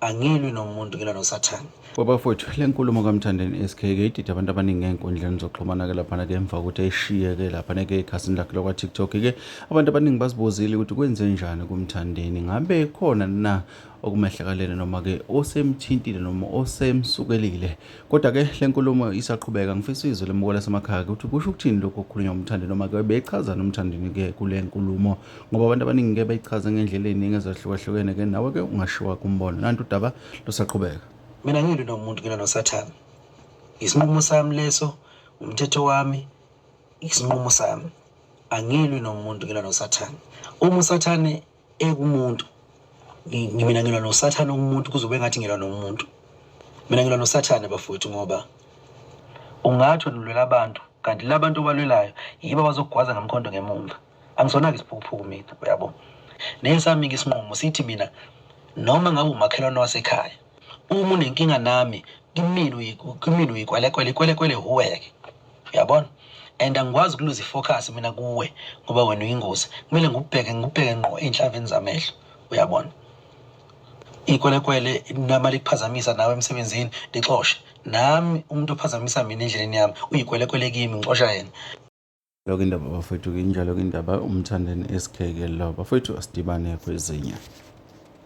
angilwi nomuntu ngilwa nosathane babafowethu le nkulumo kamthandeni s k ke idide abantu abaningi ey'nkundleni zokuxhumana-ke laphana-ke emva kokuthi ayishiye-ke laphana-ke ekhasini lakhe lakwa-tiktok-ke abantu abaningi bazibuzile ukuthi kwenze njani kumthandeni ngabe khona na okumehlakalele noma-ke osemthintile noma osemsukelile kodwa-ke le nkulumo isaqhubeka ngifisa izwe lemuko lasemakhaya ukuthi kusho ukuthini lokhu okukhulunywa umthandi noma-ke bechazani umthandini-ke kule nkulumo ngoba abantu abaningi ke bayichaza ngendlela eziningi ezahlukahlukene ke nawe ke ungashiwa kumbono nanti udaba lusaqhubeka mina ngilwi nomuntu ngilwa nosathane isinqumo sami leso umthetho wami isinqumo sami angilwi nomuntu ngilwa nosathane uma usathane ekumuntu mina ngilwa nosathane umuntu kuzobe ngathi ngilwa nomuntu mina ngilwa nosathane bafowethu ngoba ungathi ulwela abantu kanti labantu obalwelayo yibo abazokugwaza ngamkhondo ngemumva angisona-ke isiphukuphuku mina uyabo nesami-ke isinqumo sithi mina noma ngabe umakhelwane wasekhaya uma unenkinga nami kimina kimina uyikwelekwele ikwelekwele huweke uyabona and angikwazi ukuluza ifocus mina kuwe ngoba wena uyingozi kumele ngikubheke ngikubheke ngqo ey'nhlaveni zamehlo uyabona ikwelekwele noma likuphazamisa nawe emsebenzini lixoshe nami umuntu ophazamisa mina endleleni yami uyikwelekwele kimi ngixosha yena Yoke indaba bafowethu-ke injalo-ke indaba umthandeni SK-ke lo bafowethu asidibane kwezinye.